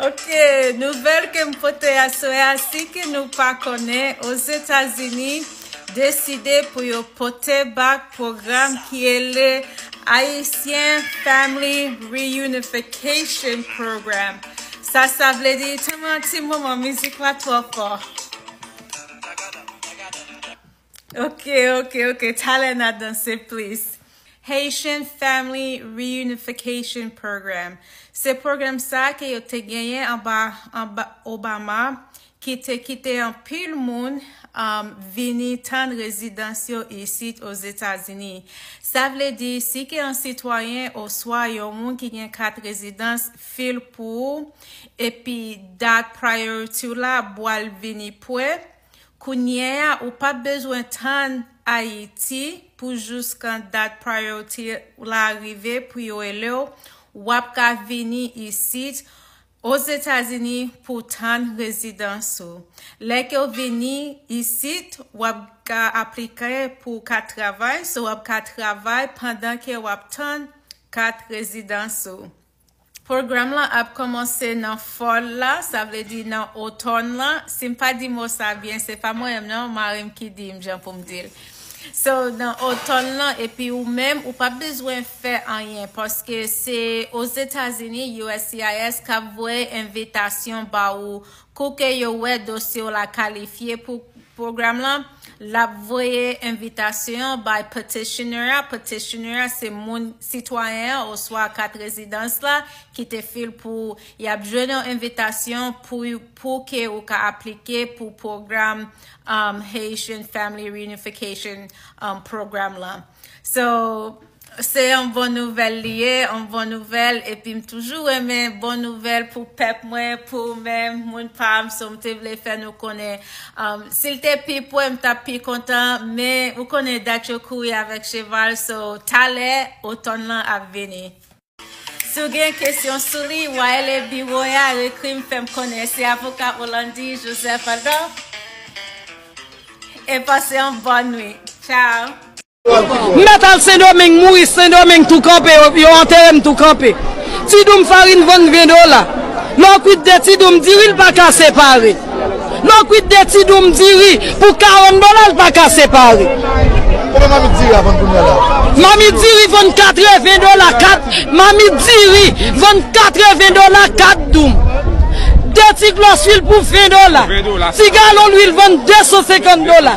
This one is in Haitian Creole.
Ok, nouvèl ke m pote aswè a si ke nou pa konnen Ozetazini deside pou yo pote bak pwogram ki ele Haitian Family Reunification Program sa sa vle di tanman ti moman mizik la twò fò. Ok, ok, ok. Talè na danse plis. Haitian Family Reunification Program. Se pwogram sa ke yo te genyen anba Obama ki te kite anpil moun um, vini tann rezidans yo isit Ozetazini. Sa vle di, si ke yon sitwayen oswa yon moun ki gen kat rezidans fil pou ou, epi dat priority w la bwal vini pwe, Kounye a ou pap bezwen tann Ayiti pou jouskan dat priority la rive pou yo ele w, wap ka vini isit Ozetazini pou w tann rezidans ou. Lè ke w vini isit wap ka aplike pou w kat travay, so wap ka travay pandan ke wap tann kat rezidans ou. Pwogram lan ap kòmanse nan fòl la, sa vle di nan otòn lan. Si m pa di mo sa byen, se pa mwen menm non, mari m ki di m jan pou m di l. So, nan otòn lan, epi ou menm, ou p ap bezwen fè anyen, paske se Ozetazini, uscis, k ap voye envitasyon ba ou Kou ke yo wè dosye w la kalifye pou pwogram lan, l ap voye envitasyon an bay petitioner a, petitioner a se moun, sitwayen an oswa kat rezidans la ki te fil pou ou. Y ap jwenn yon envitasyon pou pou ke ou ka aplike pou pwogram Haitian Family Reunification Program lan. So. Se yon bon nouvèl li ye, yon bon nouvèl, epi m toujou renmen bon nouvèl pou pèp mwen, pou ou menm, moun pa m, so m te vle fè nou konnen. Si l te pi pre, m t ap pi kontan, men ou konnen dat yo kouri avèk cheval, so talè, otòn lan ap vini. Si w gen kesyon sou li, w a rele biwo a, ekri m fè m konnen. Se Avoka Olandy Joseph Adolphe, e pase yon bòn nwit. Tchao! M mèt al sendomeng mouri sendomeng tou kanpe yo antere m tou kanpe ti doum farin vann 20 dola lè w kwit 2 ti doum diri l pa ka separe lè w kwit 2 ti doum diri pou 40 dola l pa ka separe Konbyen mamit diri a vann kounya la? Mamit diri vann 80 dola 4 mamit diri vann 80 dola 4 doum 2 ti glòs lwil pou 20 dola ti galon lwil vann 250 dola.